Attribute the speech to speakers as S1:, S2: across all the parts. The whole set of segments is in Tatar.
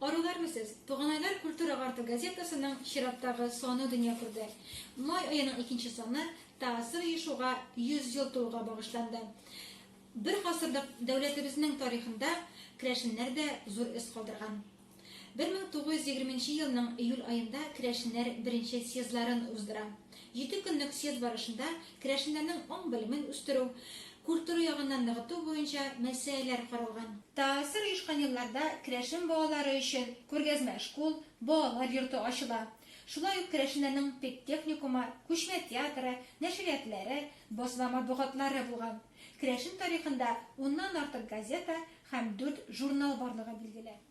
S1: Арулармысыз? Туганайлар культура гарты газетасының чираттагы саны дөнья күрде. Май аеның икенче саны ТАССР оешуга 100 ел тулуга багышланды. Бер гасырлык дәүләтебезнең тарихында керәшеннәр дә зур эз калдырган. 1920 елның июль аенда керәшеннәр беренче съездларын уздыра. Җиде көнлек съезд барышында керәшеннәрнең аң-белемен үстерү, культура ягыннан ныгыту буенча мәсьәләләр каралган. Таассир оешкан елларда керәшен балалары өчен күргәзмә шкул, балалар йорты ачыла. Шулай ук керәшеннәрнең педтехникумы, күчмә театры, нәшриятләре, басма матбугатлары булган. Керәшен тарихында уннан артык газета һәм дүрт журнал барлыгы билгеле.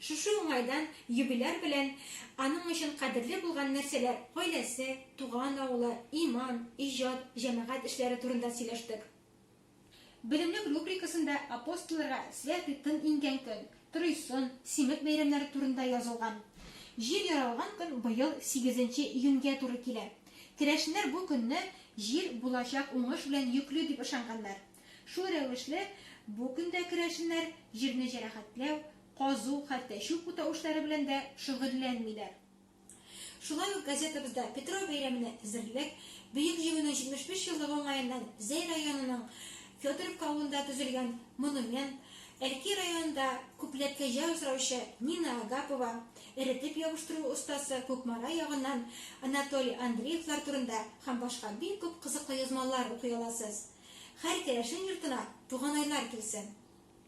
S1: Шушы уңайдан юбиляр белән аның өчен кадерле булган нәрсәләр, гаиләсе, туган авылы, иман, иҗат, җәмәгать эшләре турында сөйләштек. Белемлек рубрикасында апостолларга святый тын иңгән көн, Тройсон, Симет бәйрәмнәре турында язылган. Җир яралган көн быел сигезенче июньгә туры килә. Керәшеннәр бу көнне җир булачак уңыш белән йөкле дип ышанганнар. Шул рәвешле, бу көндә керәшеннәр җирне җәрәхәтләү, казу, хәтта чүп утау эшләре белән дә шөгыльләнмиләр. Шулай ук газетабызда Петро бәйрәменә әзерлек, Бөек Җиңүнең 75 еллыгы уңаеннан Зәй районының Федоровка авылында төзелгән монумент, Әлки районында күпләп кәҗә асраучы Нина Агапова, Эретеп ябыштыру остасы Кукмара ягыннан Анатолий Андреевлар турында һәм башка бик күп кызыклы язмалар укый аласыз. Хәр керәшен йортына Туганайлар килсен!